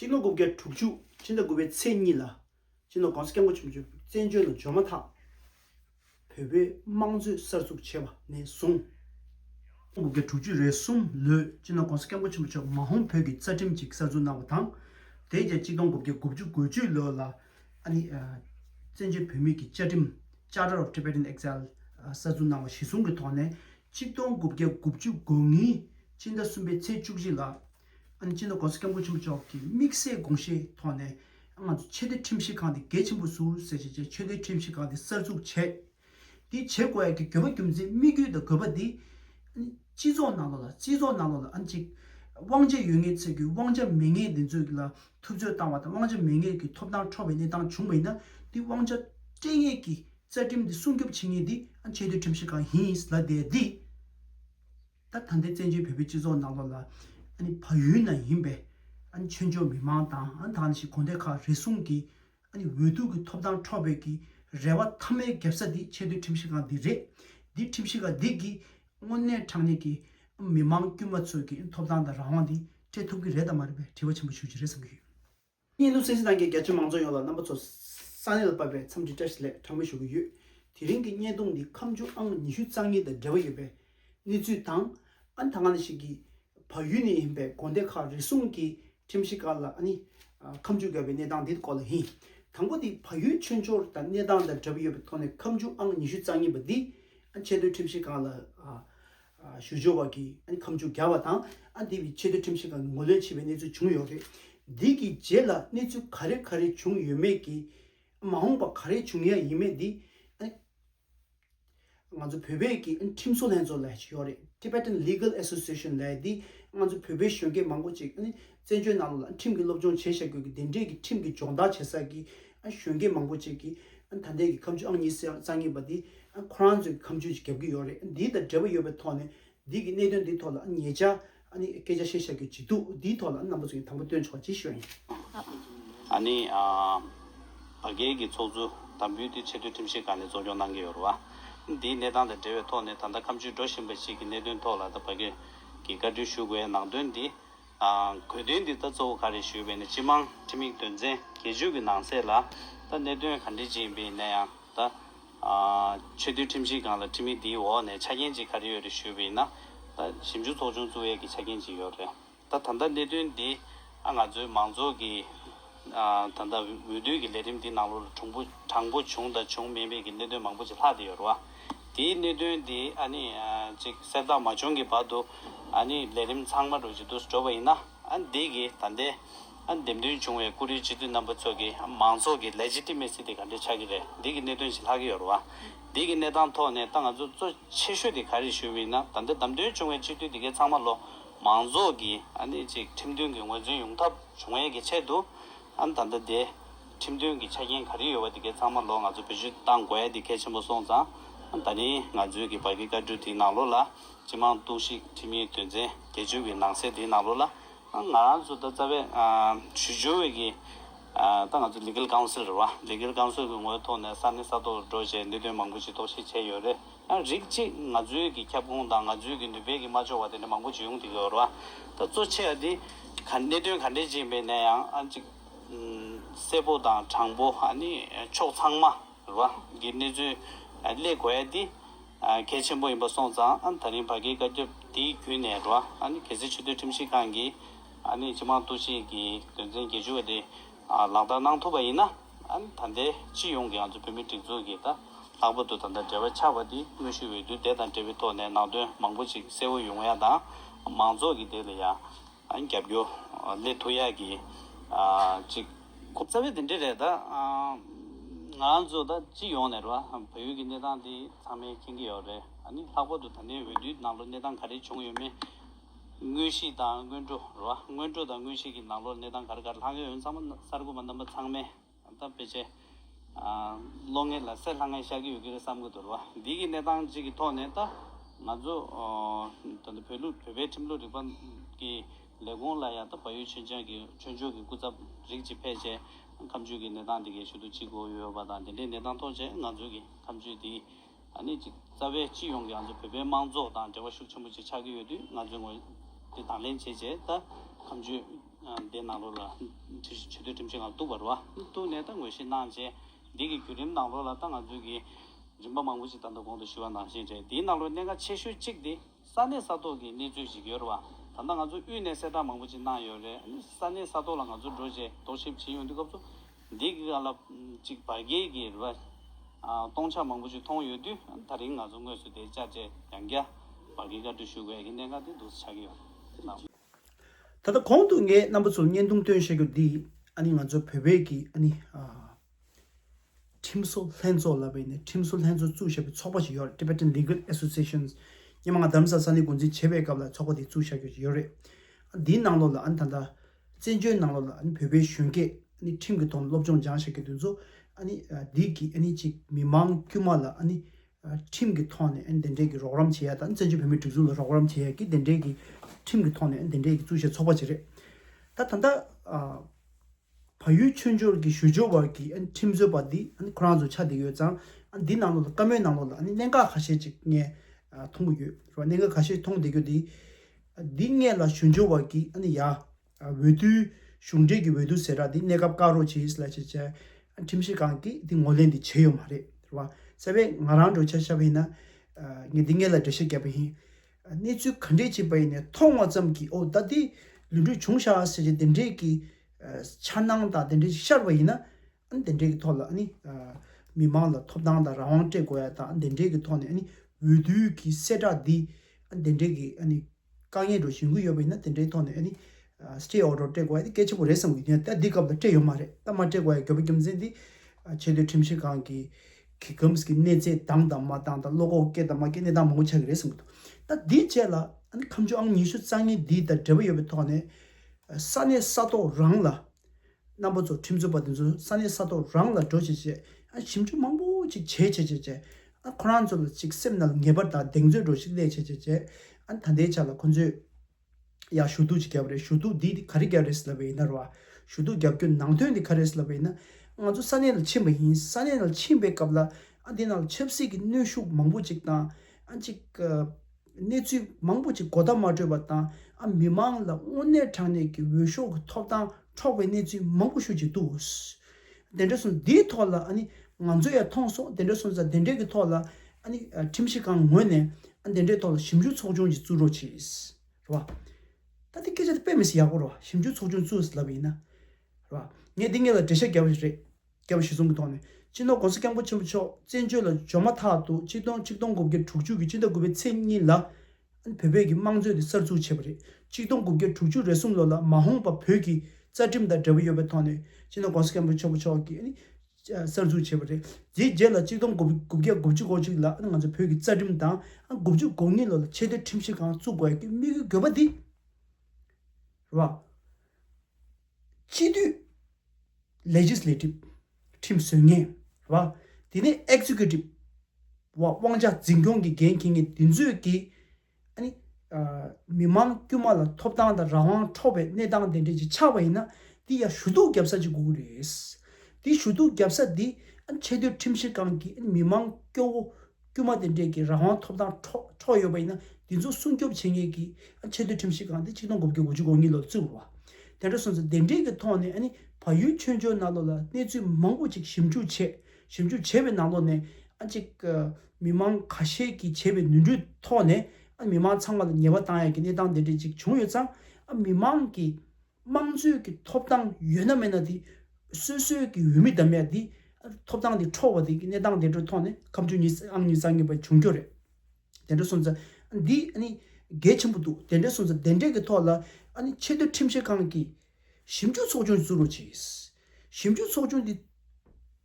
སྤྱི་ལོ་དགུ་བརྒྱ་དྲུག་ཅུ་ཕྱི་ཟླ་དགུ་པའི་ཚེས་གཉིས་ལ། སྤྱི་ནོར ྋགོང་ས ྋསྐྱབས་མགོན་ཆེན་པོས་བཙན་བྱོལ་ནང་འབྱོར་མ་ཐག་བོད་པའི་དམངས་གཙོའི་གསར་འཛུགས་བྱས་པ་ནས་བཟུང། དགུ་བརྒྱ་དྲུག་ཅུ་རེ་གསུམ་ལོའི་སྤྱི་ནོར ྋགོང་ས ྋསྐྱབས་མགོན་ཆེན་པོ་མཆོག་མ་ཧོང་བོད་ཀྱི་རྩ་ཁྲིམས་ཅིག་གསར་འཛུགས་གནང་བ་དང། དེས་ཀྱང་སྤྱི་སྟོང་དགུ་བརྒྱ་དགུ་བཅུ་དགུ་བཅུ་ལོ་ལ་ཨ་ནི། བཙན་བྱོལ་བོད་མིའི་གྱི་བཅའ་ཁྲིམས Charter of Tibetan Exile། གསར་འཛུགས་གནང་བ་གཞི་བཟུང་གི་ཐོག་ནས་སྤྱི་སྟོང་དགུ་བརྒྱ་དགུ་བཅུ་དགུ་གཉིས་སྤྱི་ཟླ་གསུམ་པའི་ཚེས་བཅུ་གཅིག་ལ། ཨ་ནི་སྤྱི་ནོར ྋགོང་ས ྋསྐྱབས་མགོན་ཆེན་པོ་མཆོག་གིས་དམིགས་བསལ་དགོངས་བཞེས་ཐོག་ནས། ང་ཚོ་ཆེད་དོན་ཁྲིམས་ཞིབ་ཁང་དེ་གལ་ཆེན་པོ་ཟུར་བཟས་བྱས་རྗེས་ཆེད་དོན་ཁྲིམས་ཞིབ་ཁང་དེ་གསར་འཛུགས་བྱས། དེའི་བྱེད་སྒོ་ཡག་གི་གྱོད་པ་རྒྱུ་མཚན་དམིགས་རྒྱུ་དང་དགོས་པ་དེ། ཨ་ནི་སྤྱི་ཚོགས་ནང་ལོགས་ལ་སྤྱི་ཚོགས་ནང་ལོགས་ལ་ཨ་ནི་གཅིག། དབང་ཆ་ཡོད་ངེས་ཚེ་རྒྱུའི་དབང་ཆ་མེད་ངེས་དེ་ཚོ་ལ་ཐུབ་ཚོད་བཏང་བ་དང་དབང་ཆ་མེད་ངེས་ཀྱི་ཐོབ་ཐང་འཕྲོག་པའི་གནས་སྟངས་བྱུང་བ་ཡིན་ན་དེ་དབང་ཆ་སྤྲད་ངེས་ཀྱི་རྩ་ཁྲིམས་དེ་སྲུང་སྐྱོབ་བྱེད་ངེས་དེ་ཨ་ནི་ཆེད་དོན་ཁྲིམས་ཞིབ་ཁང་ཡིན་ལ་དེ་དེ་ད་ད་ལྟའི་བཙན་བྱོལ་བོད་པའི་སྤྱི་ཚོགས་ནང་ལོགས་ལ་ཨ་ནི་ཕ་ཡུལ་ན་ཡིན་པའི་ཨ་ནི་ཆོས་འབྱོར་མི་མང་དང་ཨ་ད་ནི་ཞིག་དགོན་སྡེ་ཁག་རེ་ཟུང་གི་ཨ་ནི་འོས་བསྡུ་གི་ཐོབ་ཐང་འཕྲོག་འབོད་ཀྱི་རེ་བ་མཐའ་མའི་རྒྱབ་ས་དེ་ཆེས་མཐོའི་ཁྲིམས་ཞིབ་ཁང་འདི་རེད། འདི་ཁྲིམས་ཞིབ་ཁང་འདི་གིས་དངོས་གནས་དྲང་གནས་ཀྱི་མི་མང་དཀྱུས་མ་ཚོས་ཀྱི་ཐོབ་ཐང་དང་རང་དབང་འདི་སྤྲད་ཐུབ་ཀྱི་རེད་དམ་མ་རེད་པའི་དྲི་བ་ཆེན་པོ་ཞུ་རྒྱུ་རེད་བསམ་གྱི་ཡོད། གཉིས་བློ་སེང་སི་ཐང་གིས་རྒྱ་ཆེའི་མང་ཚོགས་ཡོངས་ལ་རྣམ་པ་ཚོ་ས་གནས་ལ་བབས་པའི་འཚམས་འདྲི་བཀྲ་ཤིས་ལེགས་གྲངས་མེད་ཞུ་གི་ཡོད། དེ་རིང་གི་བརྙན་ཐུང་འདི་ཁམས་ཆུ་ཨང་ཉི་ཤུ་རྩ་གཉིས་དང་འབྲེལ་བ་ཡོད་པའི་གནས་ཚུལ་དང། ཨ་ནི་ཐང་ག་ན་ཞིག་གི་བ་ཡུལ་ནས་ཡིན་པའི་དགོན་སྡེ་ཁག་རེ་ཟུང་གི་ཁྲིམས་གཞི་ཀ་ལ་ཨ་ནི་ཁམས་ཆུ་བརྒལ་བའི་གནས་སྟངས་དེ་སྐོར་ལ་ཡིན། དང་པོ་དེ་བ་ཡུལ་ཆོས་འབྱོར་དང་གནས་སྟངས་དང་འབྲེལ་བ་ཡོད་པའི་ཐོག་ནས་ཁམས་ཆུ་ཨང་ཉི་ཤུ་རྩ་གཉིས་པ་འདི་ཆེད་དོན་ཁྲིམས་གཞི་ཀ་ལ་ཨ་ཞུ་སྦྱོར་བ་གིས་ཁམས་ཆུང་བརྒྱ་བ་དང་དེ་བའི་ཆེད་དོན་ཁྲིམས་ཞིབ་ཁང་གི་ངོས་ལེན་བྱས་པའི་གནས་ཚུལ་བྱུང་ཡོད་རེད། འདི་གི་རྗེས་ལ་གནས་ཚུལ་ག་རེ་ག་རེ་བྱུང་ཡོད་མེད་ཀྱི། མ་འོངས་པ་ག་རེ་འབྱུང་ཡ་ཡིན་མེད་འདི། ང་ཚོ་བོད་པའི་གི་ཁྲིམས་བཟོ་ལྷན་ཚོགས་ལས་ཅིག་ཡོད་རེད Tibetan Legal Association ལས་འདི་ང་ཚོ་བོད་པའི་གཞོན་སྐྱེས་མང་པོ་ཅིག་བཙན་བྱོལ་ནང་ལོགས་ལ་ཁྲིམས་ཀྱི་སློབ་སྦྱོང་བྱེད་བཞག་དགོས་ཀྱི་དེ་འབྲེལ་གྱི་ཁྲིམས་ཀྱི་སྦྱོང་བརྡར་བྱེད་ས་ཀྱི་གཞོན་སྐྱེས་མང་པོ་ཅིག་གིས་ད་ལྟའི་གི་ཁམས་ཆུ་ཨང་གཉིས་སུ་ཡང་རྩ་ངེས་པ་འདི་ཁོ་རང་ཚོའི་གི་ཁམས་ཆུ་ཞིག་རྒྱབ་ཀྱི་ཡོད་རེད་འདི་དང་འབྲེལ་བ་ཡོད་པའི་ཐོག་ནས་འདི་གི་གནད་དོན་འདི་ཐོག་ལ་ངེད་ཅག་སྐད་ཆ་བཤད་ཤག་རྒྱུ་ཅི་འདུག་འདིའི་ཐོག་ལ་རྣམ་པ་ཚོ་ཡང་དང་པོ་སྟོན་ཆོག་ཅི་ཞུ་ཨ་ནི། བ་སྐལ་གྱི་ཚོགས་གཙོ་དམ་འབུལ་དུས་ཆེས་མཐོའི་ཁྲིམས་ཞིབ་ཁང་ནས་གཙོ་སྐྱོང་གནང་གི་ཡོད་རེད་བ། འདིའི་གནས་སྟངས་དང་འབྲེལ་བའི་ཐོག་ནས་ད་ལྟ་ཁམས་ཆུ་འགྲོ་བཞིན་པ་ཞིག་གི་གནད་དོན་ཐོག་ལ་ད་བ་སྐལ་གྱི་བཀའ་དྲུང་ཞུ་དགོས་ཡ་ནང་དོན་འདི་གོས་དོན་འདི་ལྟར་གཙོ་བོ་ག་རེ་ཞུས་པས་ན་སྤྱི་དམངས་ཁྲིམས་ཡིག་དོན་ཚན་བརྒྱད་ཅུ་གི་ནང་གསལ་ལ། ད་གནད་དོན་ག་འདྲའི་ཅི་ཡིན་པས་ན་ཡང་ད། ཆེས་མཐོའི་ཁྲིམས་ཞིབ་ཁང་ལ་ཁྲིམས་ཡིག་འདིའི་འོག་ནས་ཆ་རྐྱེན་གཅིག་ག་རེ་ཡོད་རེ་ཞུས་པས་ན། ད་ཞིབ་འཇུག་ཚོགས་ཆུང་བཙུགས་ཡས་ཀྱི་ཆ་རྐྱེན་གཅིག་ཡོད་རེད། ད་ད་ལྟ་གནད་དོན་འདི་ང་ཚོའི་མང་ཚོགས་ཀྱི། ད་ལྟ་འོས་བསྡུ་གྱི་ལས་རིམ་འདི་ནང་ལོར་གྲུང་པོ་དྲང་པོ་བྱུང་དང་བྱུང་མེད་མེད་ཀྱི་གནད་དོན་མང་པོ་ཅིག་ལྷག་བསྡད་ཡོད་རེད་བ། དེའི་གནད་དོན་དེ་ཨ་ནི་ཅིག་གསལ་བཏབ་མ་བྱུང་གི་བར་དུ་ཨ་ནི་ལས་རིམ་ཚང་མ་རུ་ཇི་དུས་སུ་འགྲོ་བ་ཡིན་ན་ཨ་འདི་གི་ད་ལྟའི་ཨ་འདེམས་ཐོན་བྱུང་བའི་བཀུར་འོས་སྤྱི་འཐུས་རྣམ་པ་ཚོ་གི་མང་ཚོགས་ཀྱི Legitimacy དེ་ག་འདྲས་ཆགས་ཀྱི་རེད་འདི་གི་གནད་དོན་ཞིག་ལྷག་གི་ཡོད་རེད་བ། འདི་གི་གནས་སྟངས་ཐོག་ནས་ད་ང་ཚོ་གཙོ་ཆེ་ཤོས་དེ་ག་རེད་ཞུས་པ་ཡིན་ན་ད་ལྟ་བདམས་ཐོན་བྱུང་བའི་སྤྱི་འཐུས་དེ་གའི་ཚང་མ་ལོ་མང་ཚོགས་ཀྱི་ཨ་ནི་ཅིག་ཁྲིམས་མཐུན་གྱི་ངོས་འཛིན་ཡོང་ཐབས། བྱུང་བའི་གི་ཆེད་དུ། ཨམ་ད་འདི་དེ། ཁྲིམས་མཐུན་གི་ཆ་རྐྱེན་ག་རེ་ཡོད་བ་དེ་གའི་ཚང་མ་ལོ་ང་ཚོ་བེད་སྤྱོད་བཏང་དགོས་དེ་གས་ཆེན་པོ་སོང་ཙང། ཨམ་ད་ནི་ང་ཚོའི་གི་བར་གི་བཀའ་འཁྲོལ་དེའི་ནང་ལོ་ལ། སྤྱི་མང་གཏུགས་ཤིག་ཁྲིམས་ཡིག་དོན་ཚན་བརྒྱད་ཅུ་གི་ནང་གསེས་དེའི་ནང་ལོ་ལ། ང་རང་ཚོ་ད་རྩ་བའི། ཞུ་སྦྱོར་བའི་གི། ད་ང་ཚོ་ལིགེལ་ཀའུ་སིལ་རེད་བ། ལིགེལ་ཀའུ་སིལ་གི་ངོས་ཐོག་ནས་ས་གནས་ས་ཐོག་འགྲོ་བྱས་འདི་དོན་མང་པོ་ཞིག་རྟོག་ཞིབ་བྱས་ཡོད་རེད། ཡང་རིགས་གཅིག་ང་ཚོའི་གི་ཁྱབ་ཁོངས་དང་ང་ཚོའི་གི་ནུས་པའི་གི་མ་འབྱོར་བ་དེ་འདྲ་མང་པོ་བྱུང་ཡོང་དེ་གི་རོ། ད་གཙོ་ཆེ་ཡ་དེ། གནད་དོན་ག་འདྲས་ཅན་པའི་ནས་ཡང་ཨ་ཅིག། གསལ་པོ་དང་དྲང་པོ་ཨ་ནི་ཕྱོགས་ཚང་མ་རོ། གི་གནས་ཚུལ་གླེགས་དགོས་ཡ་དེ། གལ་ཆེན་པོ་ཡིན་པ་སོང་ཙང་ཨ་ད་རིང་བར་གའི་བཀའ་ཁྱབ་དེའི་བརྒྱུད་ནས་རོ། ཨ་ནི་གལ་སྲིད་ཆུ་སྟོད་ཁྲིམས་ཞིབ་ཁང་གི། ཨ་ནི་སྤྱི་མང་གཏུག་བཤེར་གི་དོན་ཚན་བརྒྱད་ཅུ་བ་དེ་ལག་བསྟར་གནང་ཐུབ་པ་ཡིན་ན་ད་ལྟའི་སྤྱི་ཡོངས་ཀྱི་ང་ཚོའི་བོད་མིའི་སྒྲིག་འཛུགས་ཀྱི་དང་ལྷག་པར་དུ་ད་ལྟ་འབྲེལ་བ་ཆགས་པ་འདིས་དངོས་ཤུགས་འོས་བསྡུ་དེ་དང་འབྲེལ་བའི་ཐོག་ནས་ནང་དོན་མང་པོ་ཞིག་གསལ་བོ་ཡོང་ཡག་དང་མང་ཚོགས་ཀྱི་དེ་ལ་ཡང་རྒྱབ་སྐྱོར་སླེབས་ཐུབ་ཡག་གི་ཅིག་རྩ་བའི་དེ་འདྲས་རེད་ད། ང་ཚོ་ད་སྤྱི་ཡོངས་ནས་རེད་བ་བལ་ཡུལ་གྱི་གནས་སྟངས་འདི་ཚང་མས་མཁྱེན་གྱི་ཡོད་རེད་ལྷག་པར་དུ་ད་ལྟའི་འོས་བསྡུའི་ནང་ལོ་གནས་སྟངས་ག་རེ་བྱུང་ཡོད་མེད་དངོས་གཤིས་དང་སྔོན་འགྲོ་རེད་བ། སྔོན་འགྲོ་དང་དངོས་གཤིས་ཀྱི་ནང་ལོགས་གནས་སྟངས་ག་རེ་གར་ལྷང་ངེ་འོན་ཚང་མ་གསར་འགོད་པ་རྣམ་པ་ཚང་མས་ད་དཔེ་ཆའི་གློག་བརྙན་ལ་གསལ་ལྷང་ངེ་ཤར་གྱི་ཡོད་ཀྱི་རེད་བསམ་གྱི་འདུག་རེད་བ། འདི་གི་གནས་སྟངས་གཅིག་གི་ཐོག་ནས་ད་ང་ཚོ་ད་ལྟ་བོད་ལུགས་བོད་པའི་ཁྲིམས་ལུགས་རིག་པ་ཀྱི་ལས་ཁུངས་ལ་ཡང་ད་བ་ཡུལ་ཆོས་ཅན་གྱི་ཆོས་འབྱུང་གི་སྐུ་ཚབ་རིགས་གཅིག་ཕེབས་རྗེས་ཁམས་ཆོས་ཀྱི་གནས་སྟངས་འདི་གའི་ཞུ་གཏུག་ཅིག་གོ་ཡོད་བ་དང་དེ་འདྲའི་གནས་སྟངས་ཐོག་རྗེས་ང་ཚོ་གི་ཁམས་ཆོས་འདིའི་ནི་ཅིག་རྩ་བའི་སྤྱི་ཡོངས་ཀྱི་ང་ཚོ་བོད་པའི་དམངས་ཚོགས་དང་འབྲེལ་བ་ཤུགས་ཆེན་པོ་ཅིག་ཆགས་ཀྱི་ཡོད་དུས་ང་ཚོས་ངོས་འདི་དང་ལེན་བྱེད་བྱེད་ད་གམ་ཆོས་དད་ནང་རོལ་ལ་དྲི་ཞིག་ཆོད་དུས་དྲི་མཆན་ངང་གཏུགས་པར་བ་གཏུགས་ནས་ད་ངོས་བཞེས་གནང་བྱེད་འདི་གི་བརྒྱུད་རིམ་ནང་རོལ་ལ་ད་ང་ཚོས་ཀྱི་རིམ་པ་མང་པོ་ཅིག་ད་ད་གོང་དུ་ཞུ་བ་ནང་བཞིན་རེད་འདིའི་ནང་རོལ་གནད་འགག་ཆེ་ཤོས་གཅིག་འདི། ས་གནས་ས་ཐོག་གི་གནས་ཚུལ་ཞིག་ཡོད་རེད་བ། ད་ལྟ་ང་ཚོ་དབུས་ནས་གསལ་བསྒྲགས་མང་པོ་ཅིག་གནང་ཡོད་རེད། ས་གནས་ས་ཐོག་ལ་ང་ཚོ་འགྲོ་བྱེད་རྟོག་ཞིབ་བྱེད་ཡོང་དུས་སྐབས་སུ། འདི་ག་ལ་ཅིག་བར་བརྒལ་གྱི་རེད་བ། སྟོང་ཆ་མང་པོ་ཅིག་མཐོང་ཡོད་དུས་ད་རིང་ང་ཚོ་དངོས་སུ་དེའི་བཅར་འདྲི་ཡང་བརྒྱ་བར་བརྒལ་བཀའ་དྲུད་ཞུ་དགོས་ཡ་གི་གནད་འགག་དེ་འདུག་ཆགས་ཀྱི་ཡོད། ད་ལྟ་གོང་དུ་ངས་རྣམ་པ་ཚོར་བརྙན་ཐུང་སྟོན་བཤད་རྒྱུ་འདི་ཨ་ནི་ང་ཚོ་བོད་པའི་གི་ཨ་ནི། ཁྲིམས་བཟོ་ལྷན་ཚོགས་ལ་བརྟེན་ནས་ཁྲིམས་བཟོ་ལྷན་ཚོགས་བཙུགས་བྱས་པའི་ཚོགས་པ་ཞིག་ཡོད་རེད Tibetan Legal Association ཉི་མ་ང་གདམ་ས་ས་གནས་འགོ་འཛིན་བྱས་པའི་སྐབས་ལ་ཚོགས་པ་དེ་བཙུགས་བྱ་རྒྱུ་ཡོད་རེད། འདིའི་ནང་ལོགས་ལ་ད་ལྟ་བཙན་བྱོལ་ནང་ལོགས་ལ་བོད་པའི་གཞོན་སྐྱེས་ཁྲིམས་ཀྱི་ཐོག་ནས་སློབ་སྦྱོང་སྦྱང་བྱ་དགོས་དོན་ཚོ་བདེ་སྐྱིད་ཅིག་མི་མང་དཀྱུས་མ་ལ་ཁྲིམས་ཀྱི་ཐོག་ནས་དེ་འབྲེལ་གྱི་རོགས་རམ་བྱེད་ཡ་དང་བཙན་བྱོལ་བོད་མིའི་སྒྲིག་འཛུགས་ལ་རོགས་རམ་བྱེད་ཡ་གི་དེ་འབྲེལ་གྱི་ཁྲིམས་ཀྱི་ཐོག་ནས་དེ་འབྲེལ་གྱི་བཙུགས་བྱ་ཚོགས་པ་ཞིག་རེད། ད་ད་ལྟ། བལ་ཡུལ་ཆོས་འབྱོར་གྱི་ཞུ་སྦྱོར་བར་གྱི་ཁྲིམས་བཟོས་པ་འདི་ཁོ་རང་ཚོ་ཆ་འདི་ཡོད་ཙང་འདི་ནང་ལོགས་ལ་བཀའ་མོལ་ནང་ལོགས་ལ་གནད་འགག་ཁ་ཤས་ཅིག་ངས་མཐོང་གི་ཡོད་རེད་བ་གནད་འགག་ཁ་ཤས་མཐོང་བསྡད་རྒྱུ་འདི། འདི་སྔས་ལ་ཞུ་འབྱོར་བར་གྱི་ཡ། འོས་བསྡུའི་གཞུང་འབྲེལ་གྱི་འོས་བསྡུ་ཟེར་ར་འདི་གནས་སྐབས་བཀག་རོགས་བྱེད་ཡིས་ལ་བྱས་བྱས་ཁྲིམས་ཞིབ་ཁང་གི་འདི་ངོ་ལེན་འདི་བྱས་ཡོད་མ་རེད་རེད་བ། གསལ་བས་ང་རང་འགྲོ་ཆ་ཤ་བས་ན། ངས་འདི་སྔས་ལ་འགྲེལ་བཤད་བརྒྱབ་པ་ཡིན། གནས་ཚུལ་ག་འདྲས་བྱས་པ་ཡིན་ནས་མཐོང་བ་ཙམ་གྱིས་ཨོ་ད་དེ་ལུས་འགྲོས་བྱུང་ཤག་ཟེར་གྱི་དེ་འདྲས་ཀྱི་འཆར་སྣང་དང་དེ་འདྲས་ཀྱི་ཤར་བ་ཡིན་ན། ཨ་ནི་དེ་འདྲས་ཀྱི་ཐོག་ལ་ཨ་ནི་མི་མང་ལ་ཐོབ་ཐང་དང་རང་དབང་སྤྲད་དགོས་ཡ་དང་ཨ་ནི་དེ་འདྲས་ཀྱི་ཐོག་ནས་ཨ་ནི་འོས་བསྡུའི་གི་གསལ་བསྒྲགས་འདི་ཨ་ནི་དེ་འདྲས་ཀྱི་ཨ་ནི་དཀའ་ངལ་འགྲོ་བཞིན་གྱི་ཡོད་པ་ཡིན་ན་དེ་འདྲའི་ཐོག་ནས་ཨ་ནི Stay Order སྤྲད་དགོས་ཡ་དེ་གལ་ཆེན་པོ་རེད་བསམ་གྱི་ཡོད་ད་འདི་སྐབས་ལ་སྤྲད་ཡོད་མ་རེད་ད་མ་སྤྲད་དགོས་ཡ་གྱོད་པ་རྒྱུ་མཚན་འདི་ཆེ་བསྟོད་ཁྲིམས་ཞིབ་ཁང་གི། གི་གོམས་སྒྲིག་གི་གནས་ཚད་བཏང་དང་མ་བཏང་དང་བློ་ཁོག་བསྐྱེད་དང་མ་བསྐྱེད་གནས་སྟངས་མང་པོ་ཆགས་ཀྱི་རེད་གསུངས་འདུག་ད་འདིའི་རྗེས་ལ་ཨ་ནི་ཁམས་ཕྱོགས་ཨང་ཉི་ཤུ་རྩ་གཉིས་འདི་དང་འབྲེལ་བ་ཡོད་པའི་ཐོག་ནས་ས་གནས་ས་ཐོག་རང་ལ་རྣམ་པ་ཚོ་ཁྲིམས་རྩོད་པ་དེ་ཚོ་ས་གནས་ས་ཐོག་རང་ལ་འགྲོ་བྱེད་ཆེད་ཨ་ཞིབ་འཇུག་མང་པོ་ཅིག་བྱེད་བྱེད་བྱེད་བྱེད་ཨ་ཁོ་རང་ཚོ་ལ་ཅིག་སེམས་ནང་ངེས་པར་དང་གདེང་ཚོད་འགྲོ་ཞིག་སླད་བྱེད་བྱེད་བྱེད་ཨ་ད་ལྟའི་ཆ་ལ་ཁོ་ཚོས། ཡ། ཞུ་གཏུག་ཅིག་བརྒྱབ་རེད་ཞུ་གཏུག་འདི་ག་རེ་བརྒྱབ་རེས་ལབ་པ་ཡིན་ན་རེད་བ། ཞུ་གཏུག་བརྒྱབ་རྒྱུ་ནང་དོན་འདི་ག་རེས་ལབ་པ་ཡིན་ན། ང་ཚོ་ས་གནས་ལ་ཕྱིན་པ་ཡིན་ས་གནས་ལ་ཕྱིན་པའི་སྐབས་ལ། འདི་ནང་ཆབ་སྲིད་ཀྱི་གནོན་ཤུགས་མང་པོ་ཅིག་དང། གཅིག། གནས་ཚུལ་མང་པོ་ཅིག་གོ་བརྡ་མ་སྤྲོད་པ་དང། མི་མང་ལ་དངོས་གནས་དྲང་གནས་ཀྱི་འོས་ཤོག་གི་ཐོབ་ཐང་འཕྲོག་པའི་གནས་ཚུལ་མང་པོ་ཤུགས་ཅིག་འདུག། དེ་འདྲའི་སོང་དེའི་ཐོག་ལ་ཨ་ནི་ང་ཚོས་ཡང་མཐོང་སོང་དེ་འདྲའི་སོང་ཙང་དེ་འདྲའི་གི་ཐོག་ལ་ཨ་ནི་ཁྲིམས་ཞིབ་ཁང་ངོས་ནས་ཨ་ནི་དེ་འདྲའི་ཐོག་ལ་ཞིབ་འཇུག་ཚོགས་ཆུང་ཞིག་བཙུགས་རོགས་བྱེད། རེད་བ། ད་དེ་སྐད་ཆ་དེ་དཔེ་མི་སྲིད་ཡག་པོ་རེད་བ་ཞིབ་འཇུག་ཚོགས་ཆུང་བཙུགས་ཟིན་ལབ་ཡིན་ན། རེད་བ། ངས་དེ་ངེད་ལ་འགྲེལ་བཤད་རྒྱབ་ཡོད་རེད། རྒྱབ་བཞི་ཚོང་གི་ཐོག་ནས་སྤྱི་ནོར་གོང་ས་སྐྱབས་མགོན་ཆེན་པོ་མཆོག་བཙན་བྱོལ་ལ་འབྱོར་མ་ཐག་ཏུ་གཅིག་སྟོང་གཅིག་སྟོང་དགུ་བརྒྱ་དྲུག་ཅུ་གི་སྤྱི་ཟླ་དགུ་པའི་ཚེས་གཉིས་ལ་བོད་བོད་ཀྱི་དམངས་གཙོའི་དེ་གསར་འཛུགས་བྱས་པ་རེད། གཅིག་སྟོང་དགུ་བརྒྱ་དྲུག་ཅུ་རེ་གསུམ་ལོ་ལ་མ་འོངས་པ་བོད་ཀྱི་རྩ་ཁྲིམས་དང་འབྲེལ་བ་ཡོད་པའི་ཐོག་ནས་སྤྱི་ནོར ྋགོང་ས་མཁན་པོ་མཆོག་པོ་མཆོག་གིས་གསར་འཛུགས་བྱས་པ་རེད། དེའི་རྗེས་ལ་གཅིག་སྟོང་དགུ་བརྒྱ་དགུ་བཅུ་གོ་གཅིག་ལ་ང་ཚོ་བོད་ཀྱི་རྩ་ཁྲིམས་དང་དགུ་བཅུ་གོ་གཉིས་ལོ་ལ་ཆེས་མཐོའི་ཁྲིམས་གཞི་གང་བཙུགས་དགོས་ཀྱི་དམིགས་ཡུལ་དགོས་པ་དེ་རེད། སྤྱི་འཐུས། Legislative། ཁྲིམས་བཟོ་ངན། བ། དེ་ནས Executive། བ། དབང་ཆ་འཛིན་སྐྱོང་གི་འགན་འཁྱེར་མཁན་དེ་ཚོས་ཀྱིས། ཨཱ་ནི། མི་མང་དཀྱུས་མ་ལ་ཐོབ་ཐང་དང་རང་དབང་འཕྲོག་པའི་གནས་སྟངས་དེ་འདྲས་ཅིག་ཆགས་པ་ཡིན་ན། དེ་ཡང་ཞུ་གཏུག་རྒྱབ་ས་ཅིག་དགོས་ཀྱི་རེད། དེ་ཞུ་གཏུག་རྒྱབ་ས་དེ། ཨཱ་ནི། ཆེས་མཐོའི་ཁྲིམས་བཤེར་ཁང་གིས་ཨཱ་ནི་མི་མང་སྐྱོ་བོ་དཀྱུས་མ་དེ་འདྲས་ཀྱི་རང་དབང་ཐོབ་ཐང་འཕྲོག་ཡོད་པ་ཡིན་ན་དེ་ཚོ་སྲུང་སྐྱོབ་བྱེད་ངེས་ཀྱི་ཆེས་མཐོའི་ཁྲིམས་ཞིབ་ཁང་དེ་ཆིག་སྟོང་དགུ་བརྒྱ་དགུ་ཅུ་གོ་གཉིས་ལོར་བཙུགས་པ། དེ་འདྲ་སོང་ཚེ་དེ་འདྲས་ཀྱི་ཐོག་ནས་བལ་ཡུལ་ཆོས་འབྱོར་ནང་ལོགས་ལ་གནས་ཚུལ་མང་པོ་ཅིག་ཞིབ་འཇུག་བྱས། ཞིབ་འཇུག་བྱས་པའི་ནང་ལོགས་ནས་ཅིག་མི་མང་ཁ་ཤས་ཀྱིས་བྱས་པའི་ནུས་འབྲུའི་ཐོག་ནས་མི་མང་ཚང་མ་ལ་ཉེས་པ་བཏང་ཡག་གི་གནས་སྟངས་དེ་འདྲས་ཅིག་བྱུང་ཡོད་ཙང་མི་མང་གིས། དམངས་གཙོའི་གི་ཐོབ་ཐང་ཡོད་ན་མེད་ན་དེ་སོས་སོས་གི་འོས་མི་དམ་པས་དེ་ཐོབ་ཐང་དེ་འཕྲོག་བ་དེ་གི་གནས་སྟངས་དེ་འདྲོ་ཐོག་ནས་ཁ་མཆུ་ཉིད་ཨང་ཉིད་བཟང་ཉིད་པ་འབྱུང་རྒྱུ་རེད་དེ་འདྲོ་སོང་ཚ་འདི་ཨ་ནི་གལ་ཆེན་པོ་འདུག་དེ་འདྲོ་སོང་ཚ་དེ་འདྲེ་གི་ཐོག་ལ་ཨ་ནི་ཆེ་བསྟོད་ཁྲིམས་བཤེར་ཁང་གི་ཞིབ་འཇུག་ཚོགས་ཆུང་བཟོ་རུ་བྱེད་ཞིབ་འཇུག་ཚོགས་ཆུང་དེ་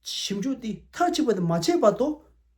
ཞིབ་འཇུག་དེ་མཐར་ཕྱིན་པ་དེ་མ་བྱས་པ་དོ།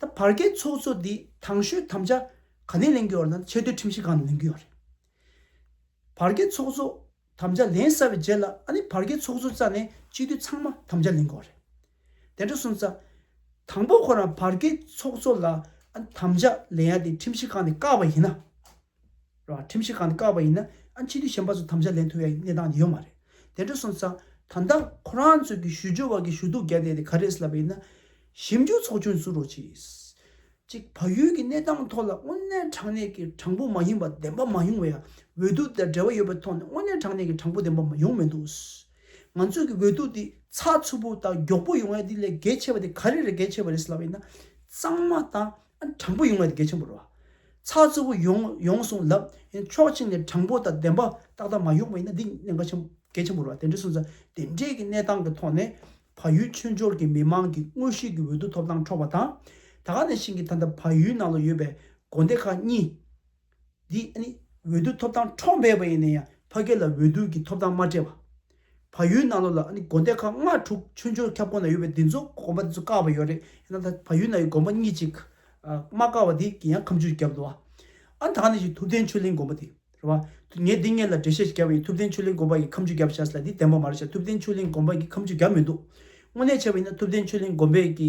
ད་བར་གའི་ཚོགས་གཙོ་འདིས་དང་ཤོས་དམ་བཅའ་ག་ནས་ལེན་རྒྱུ་ཡོད་ན་ཆེས་མཐོའི་ཁྲིམས་ཞིབ་ཁང་ནས་ལེན་རྒྱུ་ཡོད་རེད། བར་གའི་ཚོགས་གཙོ་དམ་བཅའ་ལེན་བསལ་བའི་རྗེས་ལ་ཨ་ནི་བར་གའི་ཚོགས་གཙོ་རྩ་ནས་སྤྱི་འཐུས་ཚང་མ་དམ་བཅའ་ལེན་དགོས་རེད། དེ་འདྲ་སོང་ཙང། དང་པོ་ཁོ་རང་བར་གའི་ཚོགས་གཙོ་ལ་ཨ་ནི་དམ་བཅའ་ལེན་ཡ་དེ་ཁྲིམས་ཞིབ་ཁང་ནས་བཀག་པ་ཡིན་ན། ཁྲིམས་ཞིབ་ཁང་ནས་བཀག་པ་ཡིན་ན་ཨ་ཕྱི་དུས་གཞན་པ་ཚོ་དམ་བཅའ་ལེན་ཐུབ་པའི་གནས་སྟངས་ཡོད་མ་རེད། དེ་འདྲ་སོང་ཙང་ད་ལྟ་ཁོ་རང་ཚོས་ཀྱི་ཞུ་སྦྱོར་བ་གི་ཞུ་གཏུག་རྒྱག་བསྡད་དེ་ག་རེ་ལབ་པ་ཡིན་ན། ཞིབ་འཇུག་ཚོགས་ཆུང་ཟུར་རོ་ཆིས། ཅིག་བལ་ཡུལ་གི་གནས་སྟངས་ཐོག་ལ་དངོས་གནས་དྲང་གནས་ཀྱི་དྲང་པོ་མ་ཡིན་པ་བདེན་པ་མ་ཡོང་བའི་འོས་བསྡུ་དེར་འབྲེལ་བ་ཡོད་པའི་ཐོག་ནས་དངོས་གནས་དྲང་གནས་ཀྱི་དྲང་པོ་བདེན་པ་མ་ཡོང་མི་འདུག། ང་ཚོས་ཀྱི་འོས་བསྡུ་དེ་ཚགས་ཚུད་པོ་དང་མགྱོགས་པོ་ཡོང་ཡ་དེ་ལས་གལ་ཆེ་བ་དེ་ག་རེ་རེད་གལ་ཆེ་བ་རེད་ལབ་པ་ཡིན་ན། གཙང་མ་དང་དྲང་པོ་ཡོང་བའི་དགེ་ཆེན་པོ་རོ། ཚགས་ཚུད་པོ་ཡོང་ཡོང་གསུངས་ལབ། ཕྱོགས་ཕྱི་ནས་དྲང་པོ་དང་བདེན་པ་ཏག་ཏག་མ་ཡོང་བ་ཡིན་ན་འདི་གནད་འགག་ཆེན་དགེ་ཆེན་པོ་རོ་དེ་འདྲའི་གསུངས་ས་དེ་འདྲའི་གི་གནས་སྟངས་ཀི་ཐོག་ནས་བ་ཡུལ་མཆོད་འཇོར་གི་མི་མང་གི་དངོས་གཞིའི་གི་འོད་དུ་ཐོབ་ཐང་འཕྲོག་པ་དང། ད་ག་ནས་ཤིང་གི་ད་ད་བ་ཡུལ་ནང་ལ་ཡོད་པའི་དགོན་སྡེ་ཁག་གཉིས། འདི་ནི་འོས་བསྡུ་ཐོབ་ཐང་འཕྲོག་འབད་པ་ཡིན་ན་ཡང་ཕ་སྐད་ལ་འོས་བསྡུ་གི་ཐོབ་ཐང་མ་སྤྲད་པ། ཕ་ཡུལ་ནང་ལོགས་ལ་དགོན་སྡེ་ཁག་ལྔ་དྲུག་ཆུ་འབྱོར་ཁྱབ་ཁོངས་ན་ཡོད་པའི་འདི་ཚོ་དགོན་པ་འདི་ཚོ་བཀག་པ་ཡོད་རེད་ཡིན་ན་ད་ཕ་ཡུལ་ན་ཡོད་དགོན་པ་གཉིས་གཅིག་མ་བཀག་པ་དེ་ཡང་ཁམས་ཆུས་རྒྱབ་འདུག་བ། ཨ་ད་ནི་ཞིག་ཐུབ་བསྟན་ཆོས་གླིང་དགོན་པ་དེ་རེད་བ། ངས་འདི་ངས་ལ་འགྲེལ་བཤད་ཞིག་བརྒྱབ་པ་ཡིན་ཐུབ་བསྟན་ཆོས་གླིང་དགོན་པ་ཡིས་ཁམས་ཆུས་རྒྱབ་བྱས་ལ་འདི་བདེན་པ་མ་རེད་བྱས་ཐུབ་བསྟན་ཆོས་གླིང་དགོན་པ་ཡིས་ཁམས་ཆུས་རྒྱབ་མི་འདུག་དངོས་གནས་བྱས་པ་ཡིན་ན་ཐུབ་བསྟན་ཆོས་གླིང་དགོན་པས་ཀྱི་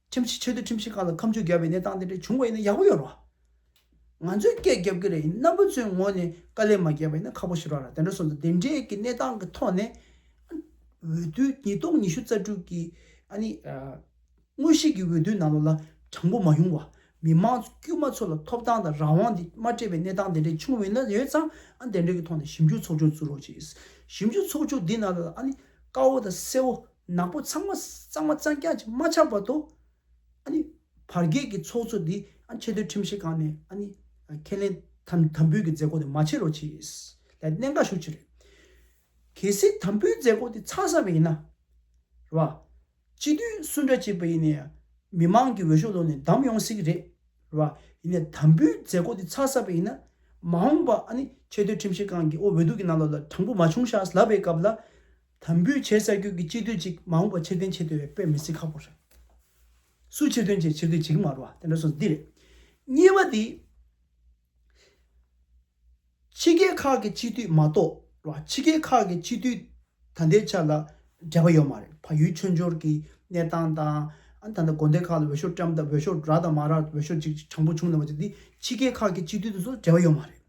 ཁྲིམས་ཞིབ་ཆེད་དོན་ཁྲིམས་ཞིབ་ཁང་ལ་ཁམས་ཆུ་བརྒྱབ་པའི་གནས་སྟངས་དེ་འདྲ་བྱུང་བ་ཡིན་ན་ཡག་པོ་ཡོད་རེད། ང་ཚོས་སྐད་བརྒྱབ་ཀྱི་རེད་ཡིན་ན་བུ་ཚོའི་ངོ་ནས་དཀའ་ལས་མ་བརྒྱབ་པ་ཡིན་ན་ཁག་པོ་ཞིག་རག་ར་དེ་འདྲ་སོང་ཙང་དེ་འདྲའི་གི་གནས་སྟངས་ཀྱི་ཐོག་ནས། འོས་བསྡུ་ཉིས་སྟོང་ཉི་ཤུ་རྩ་དྲུག་གི་ཨ་ནི། དངོས་གཞིས་ཀྱི་འོས་བསྡུའི་ནང་ལོགས་ལ་དྲང་པོ་མ་ཡོང་བ། མི་དམངས་དཀྱུས་མ་ཚོ་ལ་ཐོབ་ཐང་དང་རང་དབང་དེ་མ་སྤྲད་པའི་གནས་སྟངས་དེ་འདྲ་བྱུང་བ་ཡིན་ན་ཡོད་ཙང་ཨ་ནི་དེ་འདྲའི་གི་ཐོག་ནས་ཞིབ་འཇུག་ཚོགས་ཆུང་བཙུགས་རོགས་བྱེད། ཞིབ་འཇུག་ཚོགས་ཆུང་དེ་ནང་ལོགས་ལ་ཨ་ནི་དཀར་བོ་དང་སེར་བོ། ནག་པོ་ཚང་མ་གཙང་མ་གཙང་རྐྱང་ཅིག་མ་ཆགས་བར་དུ། བར་བརྒལ་གྱི་ཚོགས་གཙོ་འདི་ཆེས་མཐོའི་ཁྲིམས་ཞིབ་ཁང་ནས་ཁས་ལེན་དམ་འབུལ་གྱི་མཛད་སྒོ་དེ་མ་བྱེད་རོགས་གྱིས། ལས་སྣེ་འགའ་ཞུགས་ཆེད་རེད། གལ་སྲིད་དམ་འབུལ་མཛད་སྒོ་དེ་ཚར་ས་མ་ཡིན་ན། རེད་པ། སྤྱི་འཐུས་སུ་འདྲ་གཅིག་པ་ཡིན་ནའི་མི་མང་གི་འོས་ཤོག་ལོན་ནས་བདམས་ཡོང་སྲིད་ཀྱི་རེད། རེད་པ། ཡིན་ནའི་དམ་འབུལ་མཛད་སྒོ་དེ་ཚར་ས་པ་ཡིན་ན། མ་འོངས་པ་ཆེས་མཐོའི་ཁྲིམས་ཞིབ་ཁང་གི་འོས་བསྡུ་གྱི་ནང་ལ་ལ་དྲང་པོ་མ་བྱུང་ཤག་ལབ་པའི་སྐབས་ལ། དམ་འབུལ་བྱེད་ས་ཁྱོད་ཀྱི་སྤྱི་འཐུས་གཅིག་མ་འོངས་པ་ཕྱིར་འཐེན་བྱེད་འདོད་པའི་པོད་མི་སྲིད་ཁག་པོ་རེད། སུ་ཕྱིར་འཐོན་བྱེད་ཕྱིར་འཐེན་བྱེད་ཀྱི་མ་རུ་བ་དེ་འདྲ་སོང་འདི་རེད། གཉིས་པ་དེ། ཕྱི་རྒྱལ་ཁག་གི་སྤྱི་འཐུས་མ་གཏོགས་ལ་ཕྱི་རྒྱལ་ཁག་གི་སྤྱི་འཐུས་ད་ལྟའི་ཆ་ལ་འབྲེལ་བ་ཡོད་མ་རེད་ཕ་ཡུལ་མཆོད་འཇོར་གྱི་གནས་སྟངས་དང། ད་ལྟ་དགོན་སྡེ་ཁག་ལ་འོས་ཤོག་བཀྲམ་སྟབས་འོས་ཤོག་རག་དང་མ་རག་འོས་ཤོག་གཅིག་གཅིག་དྲང་པོ་བྱུང་ལ་བ་ཅིག་དེ་ཕྱི་རྒྱལ་ཁག་གི་སྤྱི་འཐུས་དང་སོགས་འབྲེལ་བ་ཡོད་མ་རེད།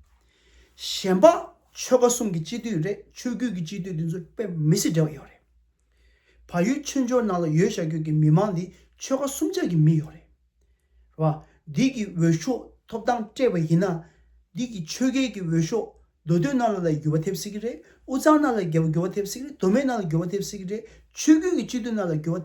གཞན་པ། ཆོལ་ཁ་གསུམ་གྱི་སྤྱི་འཐུས་རེད་ཆོས་བརྒྱུད་ཀྱི་སྤྱི་འཐུས་དེ་ཚོ་དཔེ་མི་སྲིད་འབྲེལ་བ་ཡོད་རེད། བལ་ཡུལ་ཆོས་འབྱོར་ནང་ལ་ཡོད་བཞག་ཁྱོད་ཀྱི་མི་མང་འདི་ཆོལ་ཁ་གསུམ་ཆ་གི་མི་ཡོད་རེད། བ། འདི་གི་འོས་ཤོག་ཐོབ་ཐང་སྤྲད་པ་ཡིན་ན། འདི་གི་ཆོལ་ཁའི་གི་འོས་ཤོག་མདོ་སྟོད་རྣ་ལ་ལ་འགྱུར་བ་ཐེབས་སྲིད་ཀྱི་རེད་དབུ་ཚང་རྣ་ལ་འགྱུར་བ་ཐེབས་སྲིད་ཀྱི་རེད་མདོ་སྨད་རྣ་ལ་འགྱུར་བ་ཐེབས་སྲིད་ཀྱི་རེད་ཆོས་བརྒྱུད་ཀྱི་སྤྱི་འཐུས་རྣ་ལ་འགྱུར་བ།